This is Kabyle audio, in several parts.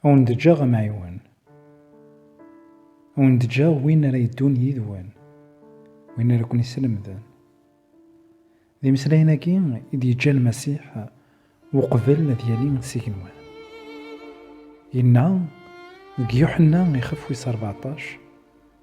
A wen-d-ǧǧaɣ amɛiwen. A wen-d-ǧǧaɣ win ara yeddun yid-wen, win ara ken-islemden. D imeslayen-agi i d-yeǧǧa Lmasiḥ uqbel ad yali s igenwan. Yenna deg Yuḥenna ixef wis rbeɛṭac,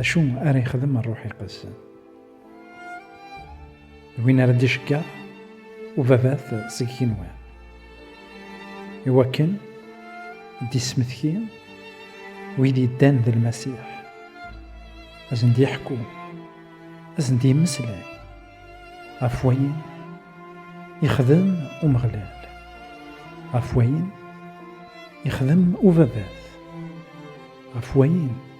Acu ara yexdem rruḥ iqedsen? D win ara d-iceggeɛ ubabat seg yigenwan. Iwakken d-ismetki wid yeddan d Lmasiḥ, ad sen-d-yeḥku, ad sen-d-yemmeslay ɣef wayen yexdem Umeɣlal, ɣef wayen yexdem ubabat, ɣef wayen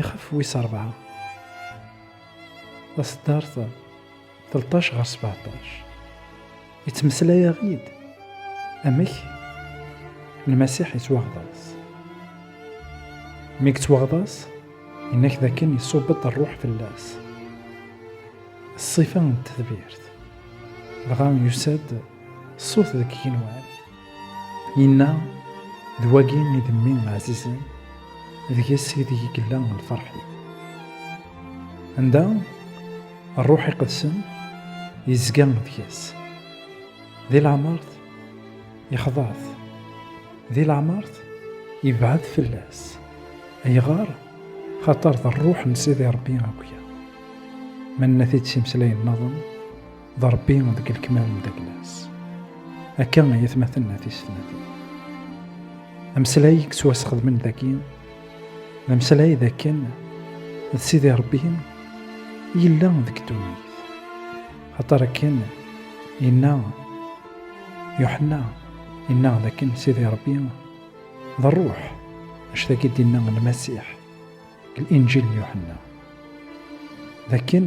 Ixef wis ṛebɛa. Taṣeddart 13 ɣer 17. Yettmeslay-aɣ-id amek Lmasiḥ yettwaɣḍas. Mi yettwaɣḍas, yenna-k dakken iṣubb-d ṛṛuḥ fell-as. Ṣṣifa n tedbirt. Dɣa yusa-d ṣṣut deg yigenwan. Inna, d wagi i d mmi ɛzizen, deg-s ideg i yella lferḥ-iw. Anda Rruḥ Iqedsen yezga deg-s, di leɛmert ixḍa-t, di leɛmert ibɛed fell-as. Ayɣer? Xaṭer d Rruḥ n Sidi Ṛebbi akya. Ma nenna-t-id s imeslayen-nniḍen. d Ṛebbi deg lekmal n Daglas. Akka ay atmaten a tisetnatin. Ameslay i yettwasxedmen dagi, d ameslay d akken d Sidi Ṛebbi yella deg ddunit. Axaṭer akken yenna Yuḥenna, yenna d akken Sidi Ṛebbi d ṛṛuḥ, anect agi d-yenna Lmasiḥ deg Linǧil n Yuḥenna. D akken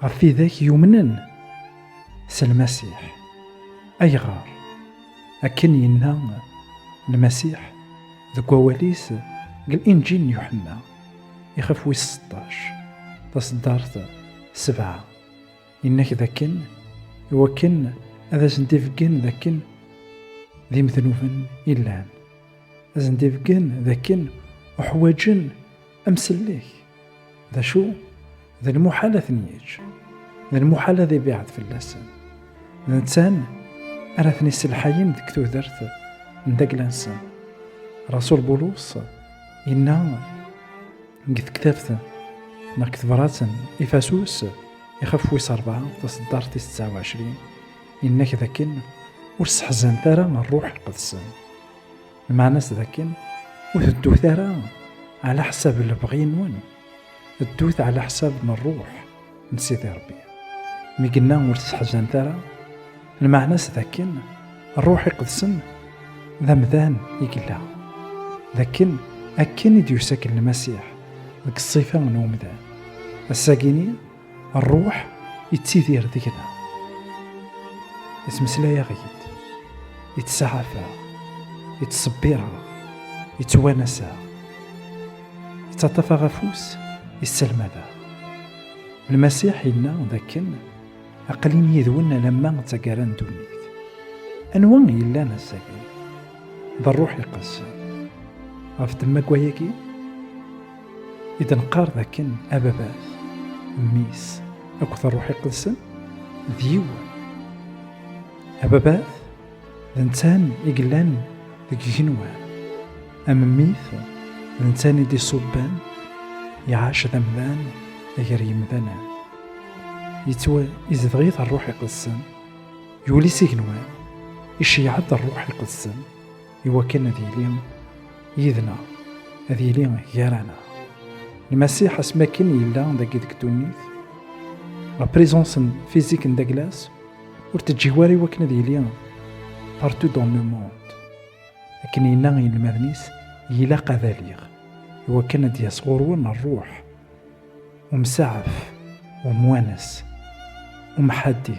Ɣef widak yumnen s Lmasiḥ. Ayɣer? Akken yenna Lmasiḥ deg wawal-is deg Linǧil n Yuḥenna, ixef wis seṭṭac, taṣeddart sebɛa, yenna-k dakken i wakken ad asen-d-ibeggen dakken d imednuben i llan, ad asen-d-ibeggen dakken uḥwaǧen Amsellek, d acu? D lmuḥal ad ten-yeǧǧ, d lmuḥal ad ibiɛed fell-asen. D nettan ara ten-iselḥayen deg tudert n dagla-nsen. Rasul Bulus yenna deg tektabt neɣ deg tebrat n Ifasus ixef wis rebɛa taseddart tis tesɛa uɛecrin yenna-k dakken ur sseḥzant ara ṛṛuḥ lqedsen. Lmeɛna-s d akken ur teddut ara ɛla ḥsab lebɣi-nwen, ddut ɛla ḥsab n ṛṛuḥ n Sidi Ṛebbi. Mi yenna ur tesseḥzanet ara, lmeɛna-s d akken ṛṛuḥ iqedsen d amdan i yella, d akken akken i d-yusa-k Lmasiḥ deg ṣṣifa n umdan. Ass-agi-ni, Rruḥ yettidir deg-na. Yettmeslay-aɣ-id, yettsaɛaf-aɣ, yettṣebbir-aɣ, yettwanas-aɣ, yettaṭṭaf-aɣ afus, yesselmad-aɣ. Lmasiḥ yenna dakken aqlin yid-wen alamma d taggara n ddunit. Anwa i yellan ass-agi? D rruḥ iqedsen. Ɣef temmagwa-agi, i d nqar d akken ababat mmi-s akked ṛṛuḥ iqedsen d yiwen ababat d netta-n i yellan deg igenwan am mmi-t d netta-n i d-iṣubben iɛac d amdan gar yimdanen yettwa izdeɣ-it ṛṛuḥ iqedsen yuli s igenwan iceyyeɛ-d ṛṛuḥ iqedsen Iwakken ad yili yid-neɣ, ad yili gar-aneɣ. Lmasiḥ asmi akken yella dagi deg ddunit, la présence physique n Douglas ur teǧǧi wara iwakken ad yili partout dans le monde. Akken yenna i yinelmaden-is, ilaq ad aliɣ, iwakken ad d-yas ɣur-wen rruḥ, umsaɛef, umwanes, umḥaddi.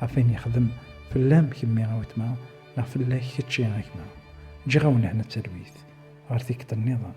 ɣef ayen yexdem fell-am kemmi a wetma neɣ fell-ak kečči a gma ǧǧiɣ-awen hna d talwit ɣer tikkelt nniḍen